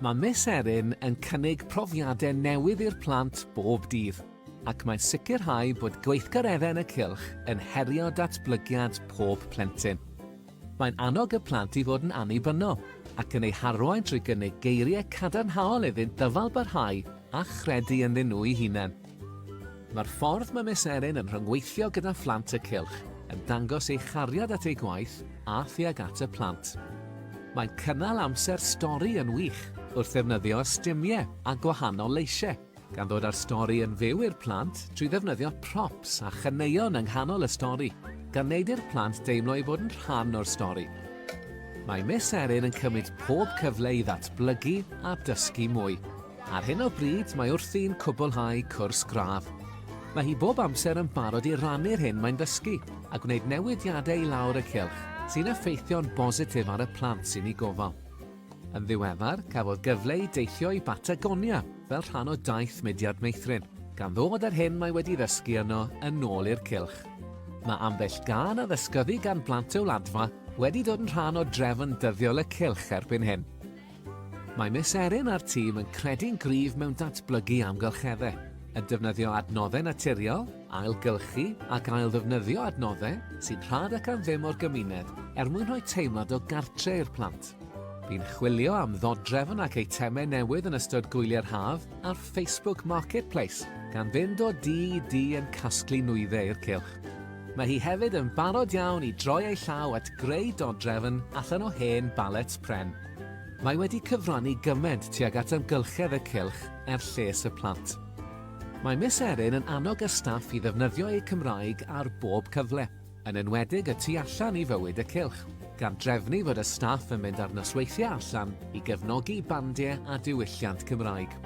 Mae Miss Erin yn cynnig profiadau newydd i'r plant bob dydd, ac mae'n sicrhau bod gweithgareddau yn y cylch yn herio datblygiad pob plentyn. Mae'n annog y plant i fod yn annibynnol ac yn eu harwain trwy gynnig geiriau cadarnhaol iddynt ddyfalbarhau a chredu ynddyn nhw'u hunain. Mae'r ffordd mae Miss Erin yn rhyngweithio gyda phlant y cylch yn dangos ei chariad at ei gwaith a thuag at y plant. Mae'n cynnal amser stori yn wych wrth ddefnyddio ystumiau a gwahanol leisiau. gan ddod â'r stori yn fyw i'r plant trwy ddefnyddio props a chaneuon yng nghanol y stori, gan wneud i'r plant deimlo eu bod yn rhan o'r stori. Mae Miss Erin yn cymryd pob cyfle i ddatblygu a dysgu mwy. Ar hyn o bryd mae wrthi'n cwblhau cwrs gradd. Mae hi bob amser yn barod i rannu'r hyn mae'n ddysgu a gwneud newidiadau i lawr y cylch sy'n effeithio'n bositif ar y plant sy'n ei gofal. Yn ddiweddar, cafodd gyfle i deithio i Batagonia fel rhan o daith mudiad meithrin, gan ddod â'r hyn mae wedi ddysgu yno yn ôl i'r cylch. Mae ambell gân a ddysgyddi gan blant y Wladfa wedi dod yn rhan o drefn dyddiol y cylch erbyn hyn. Mae Miss Erin a'r tîm yn credu'n gryf mewn datblygu amgylcheddau, yn defnyddio adnoddau naturiol, Ailgylchu ac ailddefnyddio adnoddau sy'n rhad ac am ddim o'r gymuned er mwyn rhoi teimlad o gartre i'r plant. Bu'n chwilio am ddodrefn ac eitemau newydd yn ystod gwyliau'r haf ar Facebook Marketplace, gan fynd o dŷ i dŷ yn casglu nwyddau i'r cylch. Mae hi hefyd yn barod iawn i droi ei llaw at greu dodrefn allan o hen balets pren. Mae wedi cyfrannu gymaint tuag at amgylchedd y cylch er lles y plant. Mae Miss Erin yn annog y staff i ddefnyddio eu Cymraeg ar bob cyfle, yn enwedig y tu allan i fywyd y cylch, gan drefnu fod y staff yn mynd ar nosweithiau allan i gefnogi bandiau a diwylliant Cymraeg.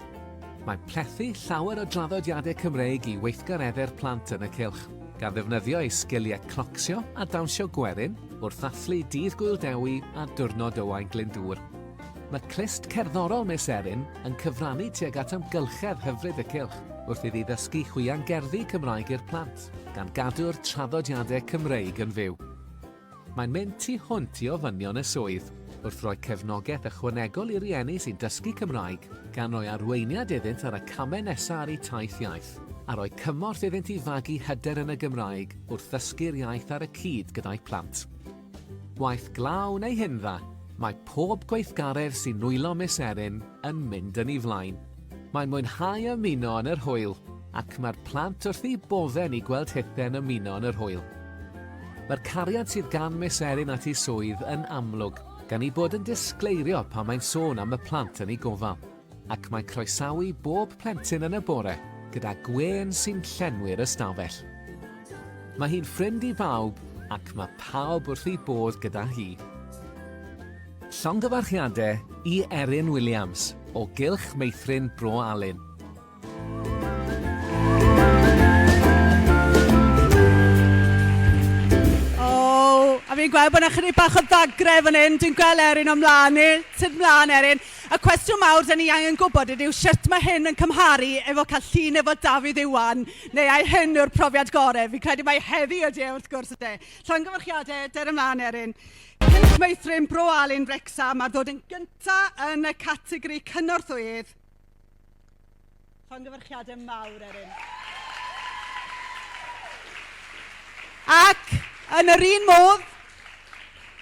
Mae plethu llawer o draddodiadau Cymreig i weithgareddu'r plant yn y cylch, gan ddefnyddio eu sgiliau clocsio a dawnsio gwerin wrth ddathlu Dydd Gŵyl Dewi a Diwrnod Owain Glyndŵr. Mae clust cerddorol Miss Erin yn cyfrannu tuag at amgylchedd hyfryd y cylch wrth iddi ddysgu chwiangerddi Cymraeg i'r plant, gan gadw'r traddodiadau Cymreig yn fyw. Mae'n mynd tu hwnt i ofynion y swydd, wrth roi cefnogaeth ychwanegol i rieni sy'n dysgu Cymraeg, gan roi arweiniad iddynt ar y camau nesaf ar eu taith iaith, a rhoi cymorth iddynt i fagu hyder yn y Gymraeg wrth ddysgu'r iaith ar y cyd gyda'u plant. Waith glaw neu hyn dda, mae pob gweithgaredd sy'n nwylo Miss Erin yn mynd yn ei flaen. Mae'n mwynhau ymuno yn yr hwyl ac mae'r plant wrth eu bodde'n i gweld Hithen ymuno yn yr hwyl. Mae'r cariad sydd gan Miss Erin at ei swydd yn amlwg, gan ei bod yn disgleirio pan mae'n sôn am y plant yn ei gofal. Ac mae croesawu bob plentyn yn y bore gyda gwên sy'n llenwi'r ystafell. Mae hi'n ffrind i bawb ac mae pawb wrth eu bodd gyda hi. Llongyfarchiadau i Erin Williams o Gylch Meithrin Bro Alun. fi'n gweld bod yna chydig bach o ddagrau fan hyn. Dwi'n gweld Erin o'n mlaen ni. Sut mlaen, Erin? Y cwestiwn mawr dyn ni angen gwybod ydyw sut mae hyn yn cymharu efo cael llun efo Dafydd Iwan, neu ai hyn yw'r profiad gorau? Fi'n credu mai heddi ydy e, wrth gwrs ydy. Llongyfarchiadau, der ymlaen, Erin. Cynill meithrin Bro Alun Wrecsam ar ddod yn gyntaf yn y categori cynorthwyydd Llongyfarchiadau mawr, Erin. Ac, yn yr un modd,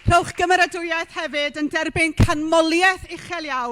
rhowch gymeradwyaeth hefyd yn derbyn canmoliaeth uchel iawn